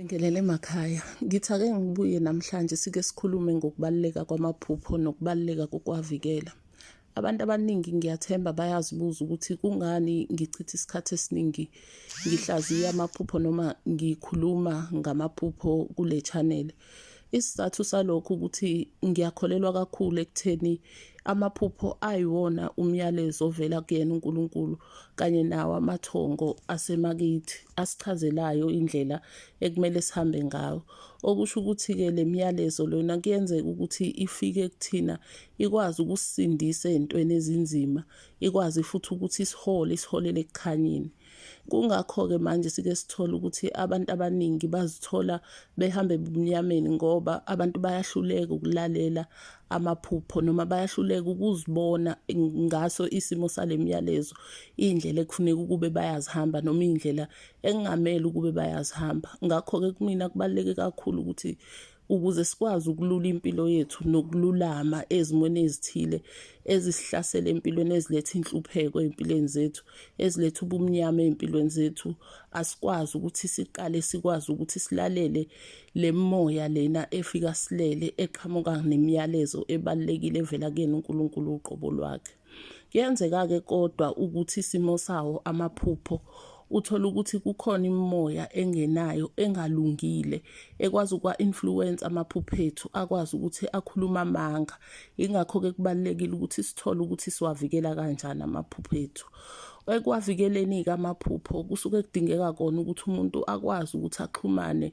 Ngelele emakhaya ngithi ake ngibuye namhlanje sike sikhulume ngokubaluleka kwamaphupho nokubaluleka kokuwavikela. Abantu abaningi ngiyathemba bayazibuza ukuthi kungani ngichitha isikhathi esiningi ngihlaziya amaphupho noma ngikhuluma ngamaphupho kule channel. Isizathu salokho ukuthi ngiyakholelwa kakhulu ekutheni amaphupho ayiwona umyalezo ovela kuyena uNkulunkulu kanye nawo amathongo asemakithi asichazelayo indlela ekumele sihambe ngayo. Okusho ukuthi-ke le myalezo lona kuyenzeka ukuthi ifike kuthina ikwazi ukusisindisa ey'ntweni ezinzima, ikwazi futhi ukuthi isihole, isiholele ekukhanyeni. Kungakho-ke manje sike sithole ukuthi abantu abaningi bazithola behamba ebumnyameni ngoba abantu bayahluleka ukulalela amaphupho noma bayahluleka ukuzibona ngaso isimo sale myalezo iy'ndlela ekufuneka ukube bayazihamba noma iy'ndlela engamele ukube bayazihamba ngakho-ke kumina kubaluleke kakhulu ukuthi ukuze sikwazi ukulula impilo yethu nokululama ezimweni ezithile ezisihlasela empilweni eziletha inhlupheko empilweni zethu eziletha ubumnyama empilweni zethu asikwazi ukuthi siqale sikwazi ukuthi silalele le moya lena efika silele eqhamuka nemiyalezo ebalulekile evela kuyena uNkulunkulu uqobo lwakhe kuyenzeka-ke kodwa ukuthi isimo sawo amaphupho uthole ukuthi kukhona imimoya engenayo engalungile ekwazi ukwa-influence amaphupho ethu akwazi ukuthi akhulume amanga yingakho-ke kubalulekile ukuthi sithole ukuthi siwavikela kanjani amaphupho ethu ekwavikeleni-ke amaphupho kusuke kudingeka kona ukuthi umuntu akwazi ukuthi axhumane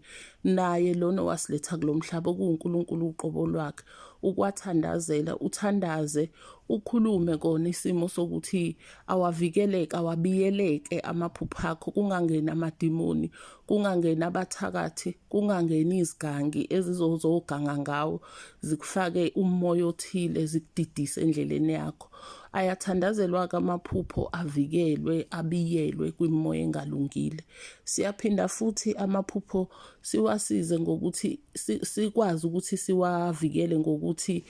naye lona owasiletha kulo mhlaba okuwunkulunkulu uqobo lwakhe ukwathandazela uthandaze ukhulume kona isimo sokuthi awavikeleke awabiyeleke amaphupho akho kungangeni amadimoni kungangeni abathakathi kungangeni izigangi ezizozoganga ngawo zikufake umoya othile zikudidise endleleni yakho Ayathandazelwa-ke amaphupho avikelwe, abiyelwe kwimimoya engalungile. Siyaphinda futhi amaphupho siwasize ngokuthi sikwazi ukuthi siwavikele ngokuthi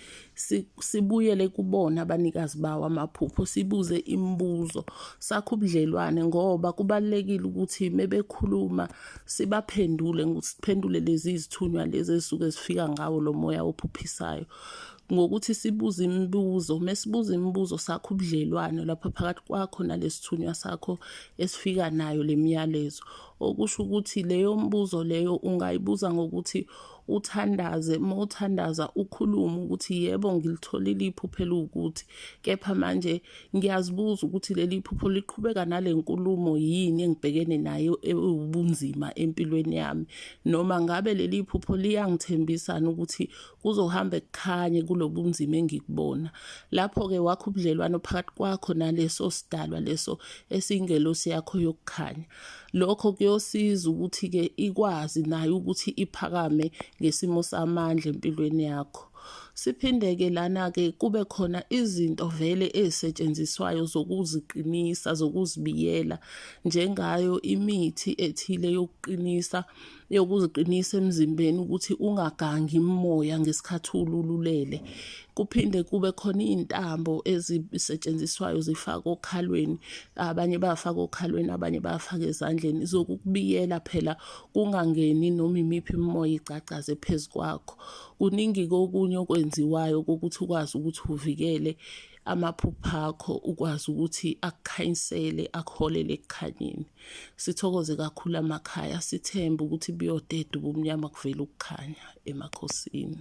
sibuyele kubona abanikazi bawo amaphupho, sibuze imibuzo, sakhe ubudlelwane ngoba kubalulekile ukuthi mebekhuluma sibaphendule, siphendule lezi zithunywa lezi ezisuke zifika ngawo lo moya ophuphisayo. ngokuthi sibuze imibuzo mesibuza imibuzo sakho ubudlelwano lapha phakathi kwakho nalesithunywa sakho esifika nayo lemiyalezo okusho ukuthi leyo mbuzo leyo ungayibuza ngokuthi uthandaze uma uthandaza ukhulume ukuthi yebo ngilitholile iphupho eliwukuthi kepha manje ngiyazibuza ukuthi leli phupho liqhubeka nale nkulumo yini engibhekene nayo ewubunzima empilweni yami noma ngabe leli phupho liyangithembisana ukuthi kuzohamba kukhanye kulobunzima engikubona lapho-ke wakho ubudlelwano phakathi kwakho naleso sidalwa leso esingelosi yakho yokukhanya lokho kuyosiza ukuthi-ke ikwazi nayo ukuthi iphakame ngesimo samandla empilweni yakho siphinde-ke lana-ke kube khona izinto vele ezisetshenziswayo zokuziqinisa zokuzibiyela njengayo imithi ethile yokuqinisa yokuziqinisa emzimbeni ukuthi ungagangi imimoya ngesikhathi ulululele kuphinde kube khona izintambo ezisetshenziswayo zifaka okhalweni abanye bayafaka okhalweni abanye bayafaka ezandleni zokukubiyela phela kungangeni noma imiphi imimoya igcagcaze phezu kwakho kuningi kokunye okwenziwayo kokuthi ukwazi ukuthi uvikele amaphupha akho ukwazi ukuthi akukhanyisele akuholele ekukhanyeni sithokoze kakhulu amakhaya sithembe ukuthi buyodeda ubumnyama kuvela ukukhanya emakhosini